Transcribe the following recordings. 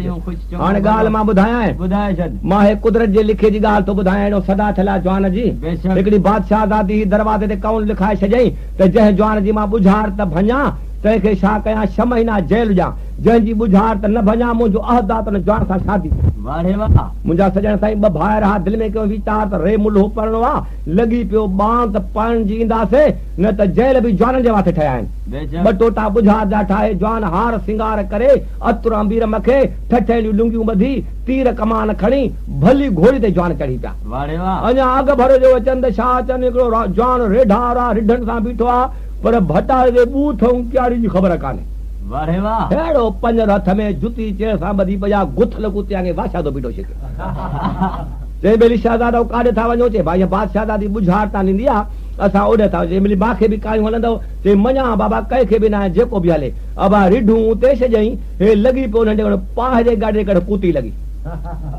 هاڻي ڳالهه مان ٻڌايانء. ماهي قدرت جي لکي جي ڳالهه ٿو ٻڌايان اهڙو صدا ٿيل آ جوان جي. هڪڙي بادشاهه زادي هئي دروازي تي قول لکائي ڇڏيائين ته جنهن جوان جي مان ٻجهار ته ڀڃان تنهن کي ڇا ڪيان ڇهه مهينا جيل ڏيان جنهن جي ٻجهار ته نه ڀڃان منهنجو عهد آ ته ان جوان سان شادي ڪيان. منهنجا سڄڻ سائين ٻه ڀائر ها دل ۾ ڪيو ويچار ته ري ملهو پرڻو آ لڳي پيو ٻانگ ته پرڻجي اينداسي نه ته جيل به جوانن جي واسطي ٺهيا آهن ٻه ٽوٽا ٻجهار جا ٺاهي جوان هار سينگار ڪري اتر آنبير مکي ٺٺيليون لنگيون ٻڌي، تير ڪمان کڻي، ڀلي گهوڙي تي جوان چڙهي پيا. اڃا اڳ ڀر جو اچن ته شاهه چند هڪڙو جوان ريڍا را رڍن سان بيٺو آ، پر ڀٽائي جي ٻوٿ ۽ ڪياڙي جي خبر ڪانهي. ههڙو پڃر هٿ ۾ جتي چير سان ٻڌي پڄا، گٿل ڪتي آڱي بادشاهه جو بيڊو ڇڪي. چئي ٻيلي شهزادو ڪاڏي ٿا وڃو؟ چئي بانهين بادشاهزادي ٻجهار تان ڏيندي آ، اسان اوڏي ٿا وڃون. چئي ٻيلي مانکي به ڪاهيون هلندؤ؟ چئي مڃان ها بابا، ڪنهن کي به ناهي، جيڪو به هلي. ابا رڍون اتي ڇڏيائين، هي لڳي پيو ننڍي وڻ پاهه جي ڳاڙهي ڪڍ ڪوتي لڳي.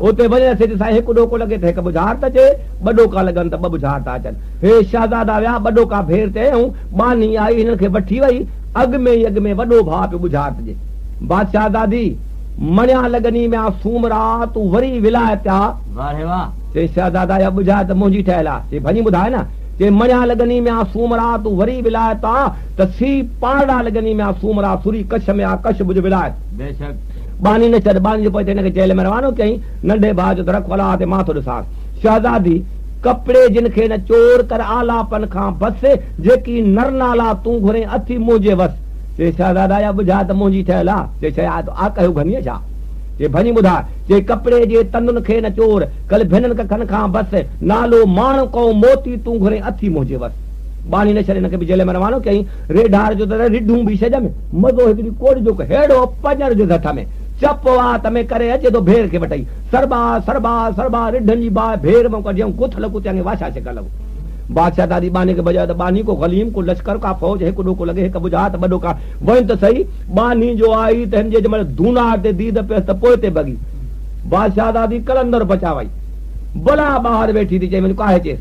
اتي وڃي رسي تي سائين هڪ ڏوڪو لڳي ته هڪ ٻجهارت اچي، ٻه ڏوڪا لڳن ته ٻه ٻجهارتا اچن. هي شهزادا ويا ٻه ڏوڪا ڀير تي ائين ٻانهي آئي هنن کي وٺي وئي. اڳ ۾ ئي اڳ ۾ وڏو ڀاء پيو ٻجهارت ڏي. بادشاهه دادي! مڻيا لڳني ميان سومرا تون وري ولايت تي آ. واه ري واه! چيائين شهزادا اها ٻجهارت منهنجي ٺهيل آ. چيائين ڀڃي ٻڌاء نه. چيائين مڻيا لڳني ميان سومرا تون وري ولايت تي آ. ڪسي، پانڙا لڳني ميا سومرا سوري ڪش ميا ڪش ڀڄ ولايت. بيشڪ! ٻانهي نه ڇڏ. ٻانهي جي پوء تي هن کي جيل ۾ روانو ڪيائين. ننڍي ڀاء چيو ته رک ڦلا تي مان ٿو ڏسانس. شهزادي، ڪپڙي جن کي نه چور ڪر آلاپن کان بس، جيڪي نر نالا تون گهرين اٿي منهنجي وس. چي شهزادا اها ٻڌاء ته منهنجي ٺهيل آ؟ چي شيء آ تو آ ڪهيو گهنيء ڇا؟ چي ڀڃي ٻڌاء. چي ڪپڙي جي تندن کي نه چور ڪل ڀنن ڪکن کان بس، نالو ماڻ ڪئو موتي تون گهرين اٿي منهنجي وس. ٻاڙي نه ڇڏي، ان کي به جيل ۾ روانو ڪيائين. ريڍار جو ته رهه رڍون به ڇڄ ۾، مزو هڪ ڏينهن ڪوڙ جو ڪهڙو پڄڻ جو ڌٺ ۾، چپ وات ۾ ڪري اچي ٿو ڀير کي وٺئي، سربا، سربا، سربا، رڍن جي باهه ڀير مئن ڪڍيائون، ڪٿل ڪتيان کي واشا ڇڪڻ لڳو. بادشاهه دادي ٻانهي کي ڀڄايو ته ٻانهي ڪو غليم، ڪو لشڪر، ڪا فوج، هڪ ڏوڪو لڳي، هڪ ٻجها ته ٻه ڏوڪا وهن ته سهي، ٻانهي جو آئي ته هن جي جنهن مهل دونار تي ديد پيس ته پوئتي ڀڳي. بادشاهه دادي قلندر پچاوائي. بلا ٻاهر ويٺي ٿي چئي وڃ ڪاهي چيس.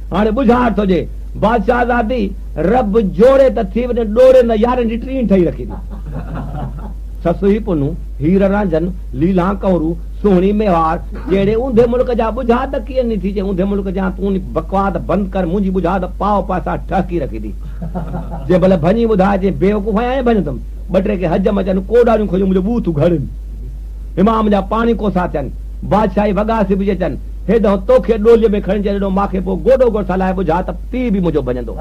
هاڻي ٻجهار ٿو ڄي. بادشاهه زادي، رب جوڙي ته ٿي وڃن ڏوري نه يارين جي ٽين ٺهي رکي ٿي. سسئي پنهون، هير رانجهن، ليلان ڪنورو، سهڻي ميهار، جهڙي اونڌي ملڪ جا ٻجهار ته ڪيئن ني ٿي ڄي اونڌي ملڪ جيان تون ني بڪواس بند ڪر منهنجي ٻجهار ته پاء پاسا ٺهڪي رکي ٿي. جي ڀلي ڀڃي ٻڌاء جي بيوقوف آهيان ائين ڀڃندم. ٻه ٽي کي حجم اچن ڪوڏاريون کڻيون منهنجو ٻوٿ اگهاڙين. امام جا پاڻي ڪوسا ٿين. بادشاهي وڳا سبجي اچن. هيڏانهن توکي ڏوليء ۾ کڻي جڏهن ماکي پوء گوڏو گوڏ سان لاهي ٻجها ته پيء به منهنجو ڀڃندو.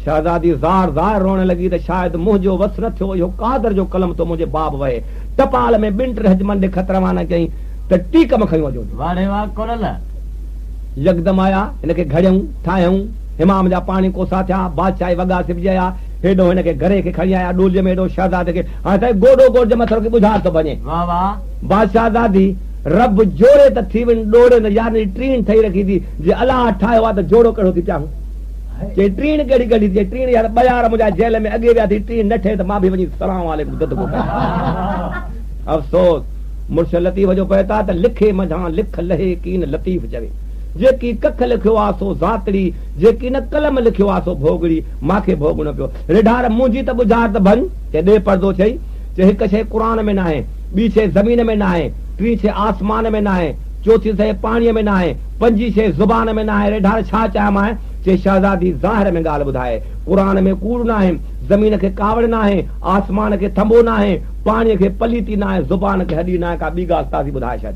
شهزادي زار زار روئڻ لڳي ته شايد منهنجو وس نه ٿيو اهو قادر جو قلم ٿو منهنجي باب وهي. ٽپال ۾ ٻن ٽن حجمن ڏي خط روانا ڪيائين ته ٽي ڪم کنيو اچو جي. يڪدم آيا، هن کي گهڙيائون، ٺاهيائون، حمام جا پاڻي ڪوسا ٿيا، بادشاهي وڳا سبجي آيا، هيڏانهن هن کي گهري کي کڻي آيا ڏوليء ۾ هيڏانهن شهزادي کي هاڻ سائين گوڏو گوڏ جي مٿر کي ٻجها ٿو ڀڃي. بادشاهه زادي، رب جوڙي ته ٿيون ڏوڙي نه يارن جي ٽيڻ ٺهي رکي ٿي، جي الله ٺاهيو آ ته جوڙو ڪهڙو ٿي پياهون. چيائين ٽيڻ ڪهڙي ڳڙهي ٿي، چيائين ٽيڻ يار ٻيار منهنجا جيل ۾ اڳي ويا ٿي، ٽيڻ نه ٺهي ته مان به وڃي سلام عليڪم ددڪو ڪريان. افسوس! مڙس لطيف جو پئي ٿا ته لکي منجهان لک لهي ڪين لطيف چوي. جيڪي ڪک لکيو آ سو زاتڙي، جيڪي نه قلم لکيو آ سو ڀوڳڙي، مان کي ڀوڳڻو پيو. رڍار منهنجي ته ٻجهار ته ڀڃ. چيائين ڏي پڙدو چئي، چيائين هڪ شيء قرآن ۾ ناهي. ٻي شيء زمين ۾ ناهي، ٽين شيء آسمان ۾ ناهي، چوٿين شيء پاڻيء ۾ ناهي، پنجين شيء زبان ۾ ناهي، ريڍار ڇا چيامانء؟ چي شهزادي ظاهر ۾ ڳالهه ٻڌائي، قرآن ۾ ڪوڙ ناهي، زمين کي ڪاوڙ ناهي، آسمان کي ٿنڀو ناهي، پاڻيء کي پليتي ناهي، زبان کي هڏي ناهي، ڪا ٻي ڳالهه تازي ٻڌائي ڇڏ.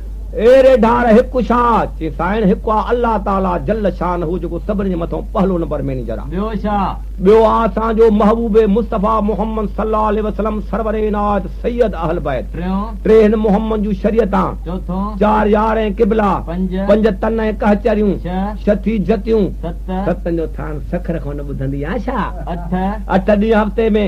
اي ريڍار هڪ شا، چي سائڻ هڪ آ الله تعالي جل شانه جيڪو سڀني جي مٿئون پهلو نمبر مئنيجر آ. ٻيو شا؟ ٻيو آ اسان جو محبوب مصطفيٰ محمد صلّي الله عليه وسلّم سرور عنايت سيد اهل بيت. ٽيون؟ ٽي هن محمد جون شريعتان. چوٿون؟ چار يار ۽ قبلا. پنج؟ پنج تن ۽ ڪهچريون. ڇهه؟ ڇهه ٿي جتيون. ست؟ ستن جو ٿان سکر کان نه ٻڌندي آ شا. اٺ؟ اٺ ڏينهن هفتي ۾.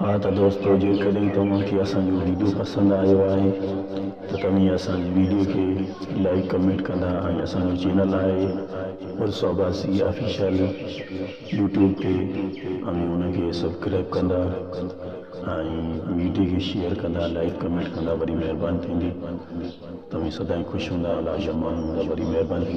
ها ته دوستو جيڪڏهن توهان کي اسان جو ويڊيو پسند آيو آهي ته توهين اسان جي ويڊيو کي لائيڪ ڪمينٽ ڪندا ۽ اسان جو چينل آهي پلس عباسي آفيشل يوٽيوب تي اوهين ان کي سبڪرائيب ڪندا ۽ ويڊيو کي شيئر ڪندا لائيڪ ڪمينٽ ڪندا وڏي مهرباني ٿيندي توهين سدائين خوش هوندا الله جا ماڻهو هوندا وڏي مهرباني ٿيندي.